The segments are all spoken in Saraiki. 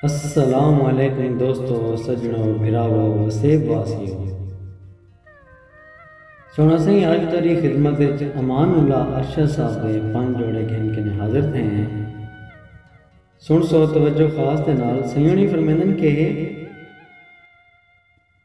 السلام علیکم دوستو سجنو بھراوو وسیب واسیو سونا سائیں اج تری خدمت وچ امان اللہ ارشد صاحب دے پن جوڑے گھن کنے حاضر تھے ہیں سن سو توجہ خاص دے نال سیونی فرمیندن کہ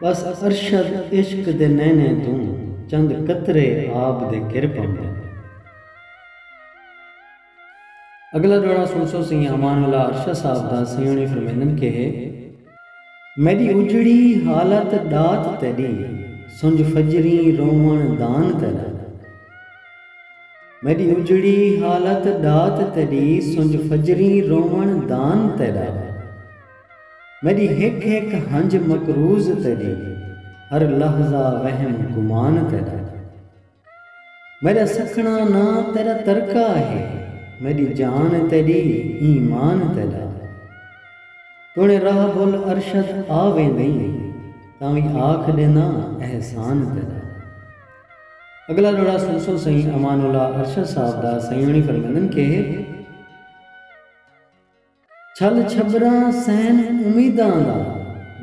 ٻس ارشد عشق دے نینیں توں چند قطرے آب دے گر پوندن۔ اگلا ڈوہڑا سنسو سئیں امان اللہ ارشد صاحب دا سئیونی فرمیندن کہ میڈی اجڑی حالت ڈات تیڈی سنج فجریں روون دان تیڈا میڈی اجڑی حالت ڈات تیڈی سنج فجریں روون دان تیڈا۔ میݙی ہک ہک ہنج مقروض تیݙی ہر لحظہ وہم گمان تیݙا میݙا سکھݨا نا تیݙا ترکہ ہے میݙی جان تیݙی ایمان تیݙا توݨے راہ بھل ارشد آ ویندیں تاں وی آکھ ݙینداں احسان تیݙا۔ اڳلا ݙوہڑا سلسل سئیں امان اللہ ارشد صاحب دا سئیں ہوݨی فرمیندن کہ۔ چھل چھبراں سین امیداں دا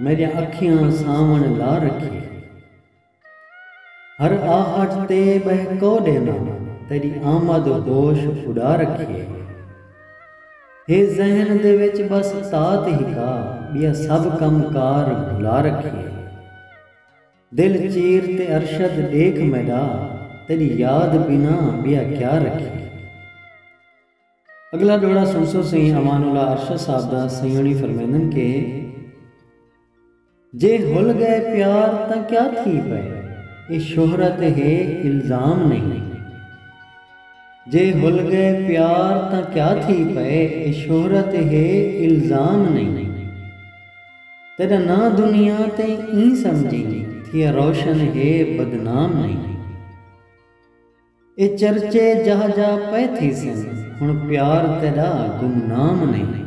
میڈیاں اکھیاں سانوݨ لا رکھیے ہر آہٹ تے بہہ کو ڈینداں تیڈی آمد ہوش اڈا رکھیے ہے ذہن دے وچ بس تات ہکا بیا سب کم کار بھلا رکھیے دل چیر تے ارشد ڈیکھ میڈا تیڈی یاد بنا بیا کیا رکھیے۔ اگلا جوڑا سنسو سئیں امان اللہ ارشد صاحب دا سئیں ہوݨی فرمیندن کہ جے ہل ڳئے پیار تاں کیا تھی پئے اے شہرت ہے الزام نہیں جے ہل ڳئے پیار تاں کیا تھی پئے اے شہرت ہے الزام نہیں تیݙا ناں دنیا تے ایں سمجھیں تھیا روشن ہے بدنام نہیں۔ اے چرچے جاہ جاہ پئے تھیسن ہݨ پیار تیݙا گمنام نئیں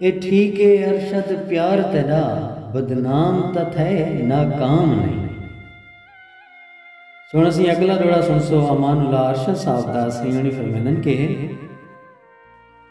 اے ٹھیک اے ارشد پیار تیݙا بدنام تاں تھئے ناکام نئیں۔ سو ہݨ اسیں اڳلا ݙوہڑا سݨسو امان اللہ ارشد صاحب دا سئیں ہوݨی فرمیندن کہ۔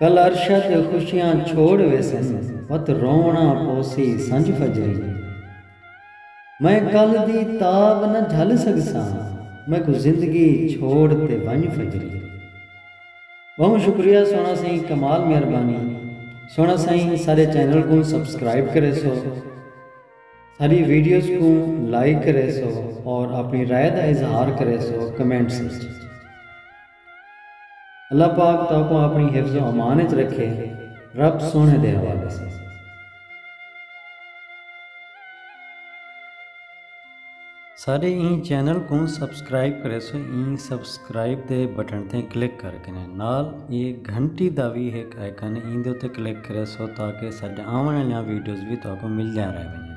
کل عرشاں تے خوشیاں چھوڑ ویسن وت روونا پوسی سنج فجری میں کل دی تاب نہ جھل سگساں میکوں زندگی چھوڑ تے ونج فجری بہوں شکریہ سونا سائیں کمال مہربانی سونا سائیں سارے چینل کوں سبسکرائب کرے سو ساری ویڈیوز کوں لائک کرے سو اور اپنی رائے دا اظہار کرے سو کمنٹس وچ اللہ پاک تہاکوں آپݨی حفظ و امان اچ رکھے رب سوہݨے دے حوالے ساں۔ ساݙے ایں چینل کوں سبسکرائب کریسو ایں سبسکرائب دے بٹن تے کلک کر کنے نال اے گھنٹی دا وی ہک آئیکن ایں دے اتے کلک کریسو تاکہ ساݙے آوݨ آلیاں ویڈیوز وی تہاکوں ملدیاں رہ ونڄن۔